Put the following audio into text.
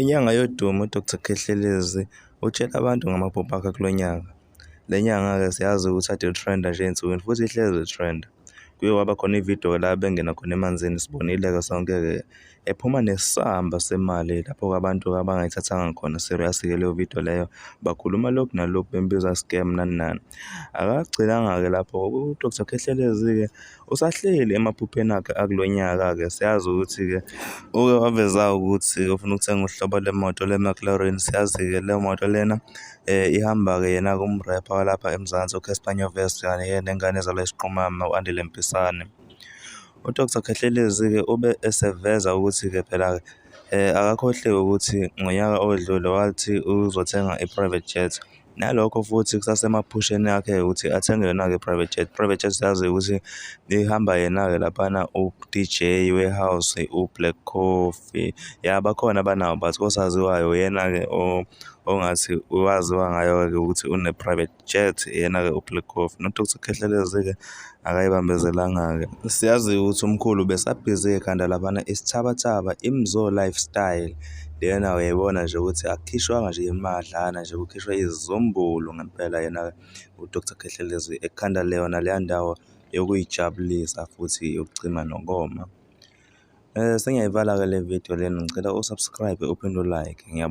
Inyanga yodumo uDr Khehlelezi utshele abantu ngamaphupho akhe kulo nyaka. Le nyanga-ke siyazi ukuthi kade i-trend-a nje ey'nsukwini futhi ihlezi i-trend-a. Kuye kwaba khona ividiyo la bengena khona emanzini sibonile-ke sonke-ke ephuma nesamba semali lapho abantu abangayithathanga khona serious-ke leyo vidiyo leyo bakhuluma lokhu nalokhu bembiza scam nani nani. Akagcinanga-ke lapho u-Dr Khehlelezi-ke usahleli emaphupheni akhe akulo nyaka-ke siyazi ukuthi-ke uke waveza ukuthi ufuna ukuthenga uhlobo lwemoto le-McLaren siyazi-ke le moto lena um ihamba-ke yena-ke umrepha walapha eMzansi uCasper Nyovest kanye-ke nengane ezalwa isiqhumama u-Andile Mpisane. UDr Khehlelezi-ke ube eseveza ukuthi-ke phela-ke um akakhohliwe ukuthi ngonyaka odlule wathi uzothenga i-private jet Nalokho futhi kusasemaphusheni akhe ukuthi athenge yona-ke private jet. Private jet siyazi ukuthi ihamba yena-ke laphana u-DJ Warehouse, u-Black Coffee. Ya bakhona abanawo but kosaziwayo uyena-ke ongathi waziwa ngayo-ke ukuthi une-private jet, yena-ke u-Black Coffee. Not ukuthi ukhehlelezi-ke akayibambezelanga-ke siyazi ukuthi umkhulu besabhizi ekhanda labana isithabathaba imzo lifestyle lena uyayibona nje ukuthi akukhishwanga nje imadlana nje kukhishwa izizumbulu ngempela yena udr khehlelezi ekhanda leyona leya ndawo yokuyijabulisa futhi yokucima nokoma um eh, sengiyayivala-ke le video lena ngicela usubscribe uphinde ulike